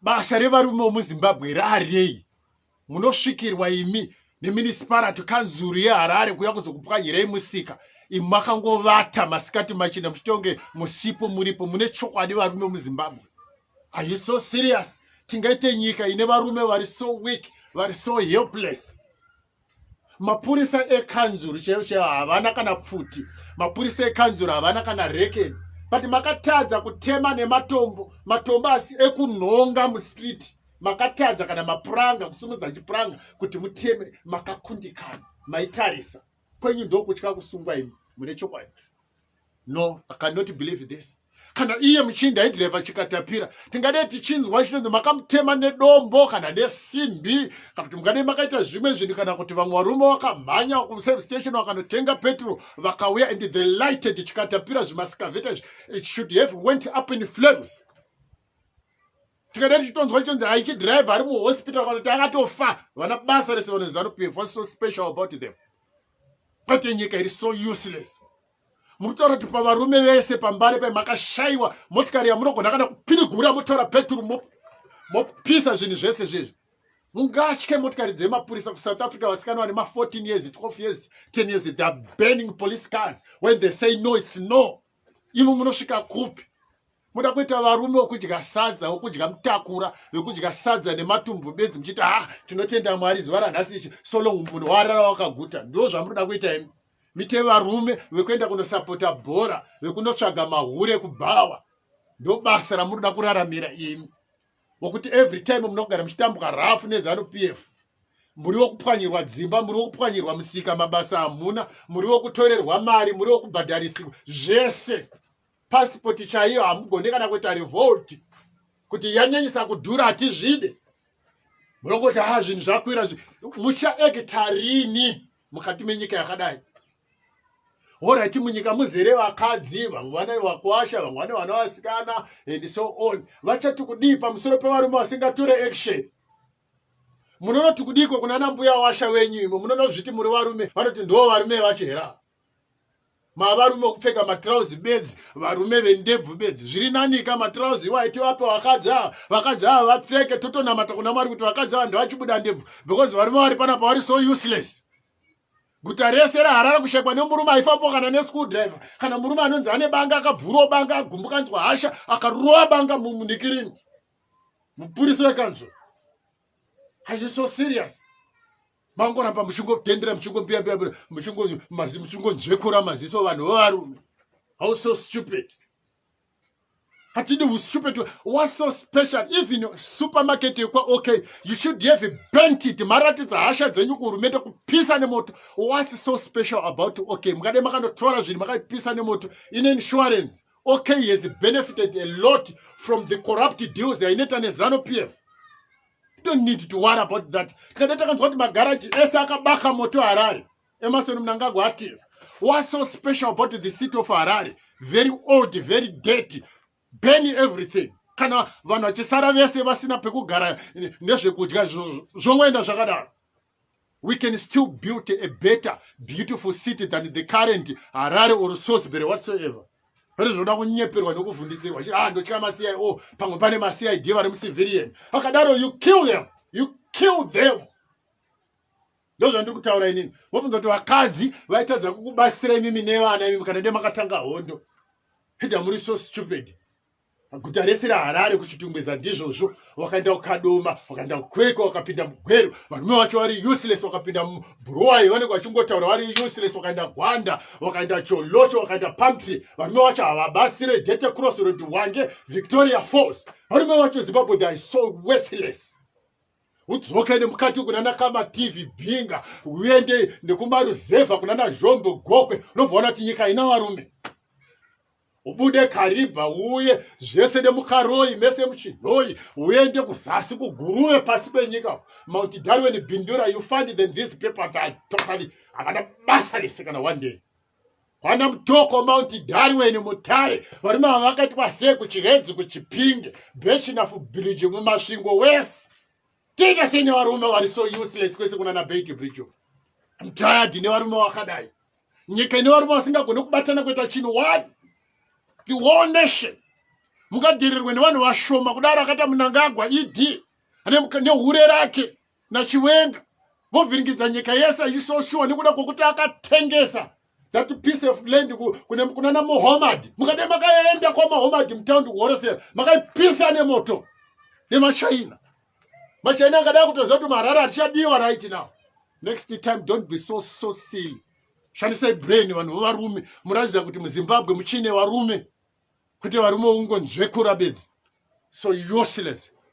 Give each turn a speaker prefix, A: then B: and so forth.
A: basa revarume vemuzimbabwe here arirei munosvikirwa imi nemunicipality kanzuru yeharare kuya kuzokupwanyirei musika imi makangovata masikati machina muchitonge musipo muripo mune chokwadi varume vemuzimbabwe are you so serious tingaite nyika ine varume vari so weak vari so helpless mapurisa ekanzuru chaiyo chaiyo havana kana pfuti mapurisa ekanzuru havana kana rekeni but makatadza kutema nematombo matombo asi ekunhonga mustreet makatadza kana mapuranga kusumudza chipuranga kuti muteme makakundikana maitarisa kwenyu ndokutya kusungwa imi mune chokwadi no i cannot believe this kana iye muchinda aidhirevha chikatapira tingadei tichinzwa chinonzi makamutema nedombo kana nesimbi kana kuti mungadei makaita zvimwe zvinhu kana kuti vamwe varume vakamhanya kuserve station vakanotenga petro vakauya and the lighted chikatapira zvimasikavheta izvi it should have went up in flames tikada tichitonzwa chitonzi haichidrive ari muhospital kana kuti akatofa vana basa rese vanozanupf whats so special about them Kwete nyika iri so useless. Muritaura kuti pavarume vese pambare pai makashaiwa motikari yamunogona kana kupirigura motora peturu mopisa zvinhu zvese zvezvi. Mungatye motikari dzemapurisa kuSouth Africa vasikana vane ma 14 years, 12 years, 10 years they are burning police cars when they say no it's no. imo munosvika kupi moda kuita varume wokudya sadza wokudya mutakura wekudya sadza nematumbu bedzi muchiti ha ah, tinotenda mwari zuva ranhasi ichi so long munhu warara wakaguta ndo zvamunoda kuita imi mite varume vekuenda kunosapota bhora vekunotsvaga mahure kubhawa ndobasa ramunoda kuraramira imi wekuti every time munogara muchitambwa rafu nezanu pf muri wekupwanyirwa dzimba muri wekupwanyirwa musika mabasa hamuna muri wekutorerwa mari muri wekubhadharisikwa zvese pasipoti chaiyo hamugone kana kuita revolt kuti yanyanyisa kudhura hatizvide munongoti ha ah, zvinhu zvakwira muchaekita rini mukati menyika yakadai horaiti munyika muzere vakadzi vamwe vana vakwasha vamwe vane vana vasikana and so on vachati kudii pamusoro pevarume vasingatore action munonoti kudiiko kuna nambuya washa venyu imo munonozviti muri varume vanoti ndoo varume vacho hera mavarume kupfeka matrauzi bedzi varume vendebvu bedzi zviri nanika matrauzi iwayo tivape vakadzi ava vakadzi ava vapfeke totonamata kuna mwari kuti vakadzi ava ndevachibuda ndebvu because varume vari panapa vari so useless guta rese raharare kushekwa nemurume aifambawo kana neschool driver kana murume anonzi ane banga akabvurawo banga agumbukanzwa hasha akarova banga mumnikirini mupurisi wekanzuro are you so serious mangoramba muchingotendera muchingombiambia muchingonzvekura maziso vanhu vevarume how so stupid hatidi hustupid was so special even supermarket yekwa okay you should have bent it maratidza hasha dzenyu kuhurumende kupisa nemoto whats so special about okay mukade makanotora zvinhu makaipisa nemoto in insurance okay has benefited a lot from the corrupt deals yaineta nezano p f don't need to worry about that tikada takanzwa kuti magaraji ese akabaka moto harare Emerson Mnangagwa atiza what's so special about the city of Harare very old very dirty burn everything kana vanhu vachisara vese vasina pekugara nezvekudya zvongoenda zvakadaro we can still build a better beautiful city than the current harare or sosbury whatsoever pane zvinoda kunyeperwa nekuvhundisirwa chi ah ndotya macia o oh, pamwe pane macid vari mucivilian akadaro you kill them you kill them ndozvandiri kutaura inini vobvunza kuti vakadzi vaitadza kukubatsira imimi nevana imimi kana de makatanga hondo hida muri so stupid guta rese raharare kuchitungwiza ndizvozvo wakaenda kukadoma wakaenda kukwekwa wakapinda mugweru varume vacho vari useless wakapinda mubhuruwai vanenge vachingotaura vari useless wakaenda gwanda wakaenda cholocho wakaenda pamtry varume vacho havabatsire dete cross rod wange victoria falls varume vacho zimbabwe they are so worthless udzoke nemukati kunana kama tv bhinga uende nekumaruzevha kunana zvombo gokwe unovaona kuti nyika ina varume ubude karibha uye zvese nemukaroyi mese muchinhoyi uende kuzasi kuguruve pasi penyika mauti darwen bindura you find them these people that are totally havana basa rese kana one day Vana Mutoko, Mount Darwin, Mutare, varume ava vakaitwa sei kuChiredzi, kuChipinge, Bechinafu Bridge, muMasvingo wese. Tiita sei nevarume vari so useless kwese kunana Beit Bridge? I'm tired nevarume vakadai. Nyika ine varume vasingagone kubatana kuita chinhu one. The whole nation. Mukadhirirwe nevanhu vashoma kudaro akaita munangagwa ED nehure rake nachiwenga vovhiringidza nyika yese yechisoshuwa nekuda kwokuti akatengesa that piece of land kunana muhomad mukade makaenda kwamahomad mutaundi kuhoresera makaipisa nemoto nemachina machina akadai kutoziva kuti marara atichadiwa right now next time don't be so so silly shandisai brain vanhu vovarume muratidza kuti muzimbabwe muchine varume kuti varume ungonzvekura bedzi so useless